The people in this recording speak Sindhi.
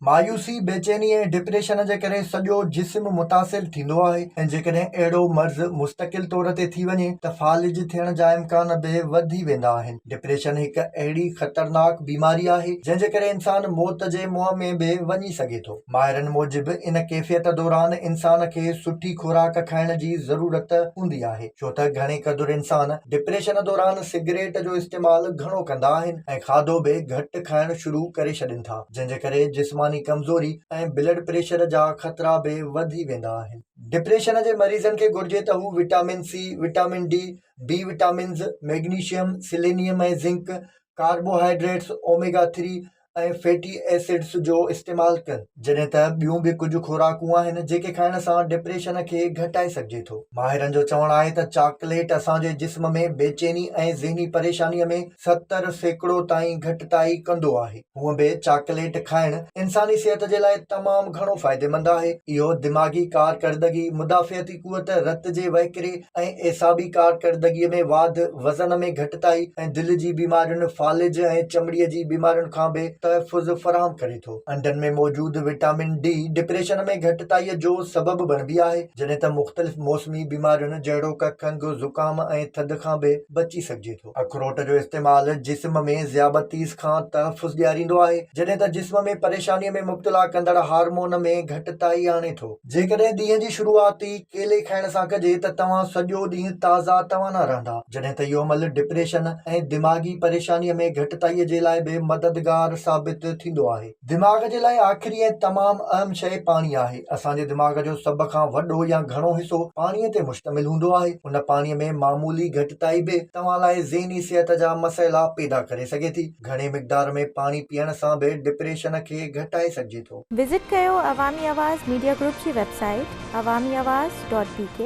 مايوسي، بيچيني ۽ ڊپريشن جي ڪري سڄو جسم متاثر ٿيندو آهي ۽ جيڪڏهن اهڙو مرض مستقل طور تي ٿي وڃي ته فالج ٿيڻ جا امڪان به وڌي ويندا آهن. ڊپريشن هڪ اهڙي خطرناڪ بيماري آهي جنهن جي ڪري انسان موت جي منهن ۾ به وڃي سگهي ٿو. ماهرن موجب ان ڪيفيت دوران انسان کي سٺي خوراڪ کائڻ جي ضرورت هوندي آهي ڇو ته گهڻي قدر انسان ڊپريشن دوران سگريٽ جو استعمال گهڻو ڪندا آهن ۽ کاڌو به گهٽ کائڻ شروع ڪري ڇڏين ٿا جنهن جي ڪري جسماني ڪمزوري ۽ بلڊ پريشر جا خطرا به وڌي ويندا آهن. ڊپريشن جي مريضن کي گهرجي ته هو vitamin C, vitamin D, B vitamins, magnesium, selenium ۽ zinc, carbohydrates, omega three, ۽ fatty acids جو استعمال ڪن جڏهن ته ٻيون به ڪجهه خوراڪون آهن جيڪي کائڻ سان ڊپريشن کي گهٽائي سگهجي ٿو ماهرن جو چوڻ آهي ته چاڪليٽ اسان جي جسم ۾ بيچيني ۽ ذهني پريشاني ۾ ستر سيڪڙو تائين گهٽتائي ڪندو آهي هونء به چاڪليٽ کائڻ انساني صحت جي لاء تمام گهڻو فائديمند آهي اهو دماغي ڪارڪردگي مدافعتي قوت، رت جي وهڪري ۽ اعصابي ڪارڪردگيء ۾ واڌ، وزن ۾ گهٽتائي ۽ دل جي بيمارين، فالج ۽ چمڙيء جي بيمارين کان به تحفظ فراهم ڪري ٿو. انڊن ۾ موجود وٽامن ڊي ڊپريشن ۾ گهٽتائيء جو سبب بڻبي آهي، جڏهن ته مختلف موسمي بيمارين جهڙوڪ کنگهه، زڪام ۽ ٿڌ کان به بچي سگهجي ٿو. اخروٽ جو استعمال جسم ۾ ذيابطيس کان تحفظ ڏياريندو آهي، جڏهن ته جسم ۾ پريشانيء ۾ مبتلا ڪندڙ هارمون ۾ گهٽتائي آڻي ٿو. جيڪڏهن ڏينهن جي شروعات ئي ڪيلي کائڻ سان ڪجي ته توهان سڄو ڏينهن تازا توانا رهندا، جڏهن ته اهو عمل ڊپريشن ۽ دماغي پريشانيء ۾ گهٽتائيء جي لاء به مددگار ثابت ٿيندو آهي. دماغ جي لاء آخري ۽ تمام اهم شيء پاڻي آهي. اسان جي دماغ جو سڀ کان وڏو يا گهڻو حصو پاڻي تي مشتمل هوندو آهي. ان پاڻي ۾ معمولي گهٽتائي به توهان لاء ذهني صحت جا مسئلا پيدا ڪري سگهي ٿي. گهڻي مقدار ۾ پاڻي پيئڻ سان به ڊپريشن کي گهٽائي سگهجي ٿو. وزٽ ڪيو عوامي آواز ميڊيا گروپ جي website Awami Awaz dot بي ڪي.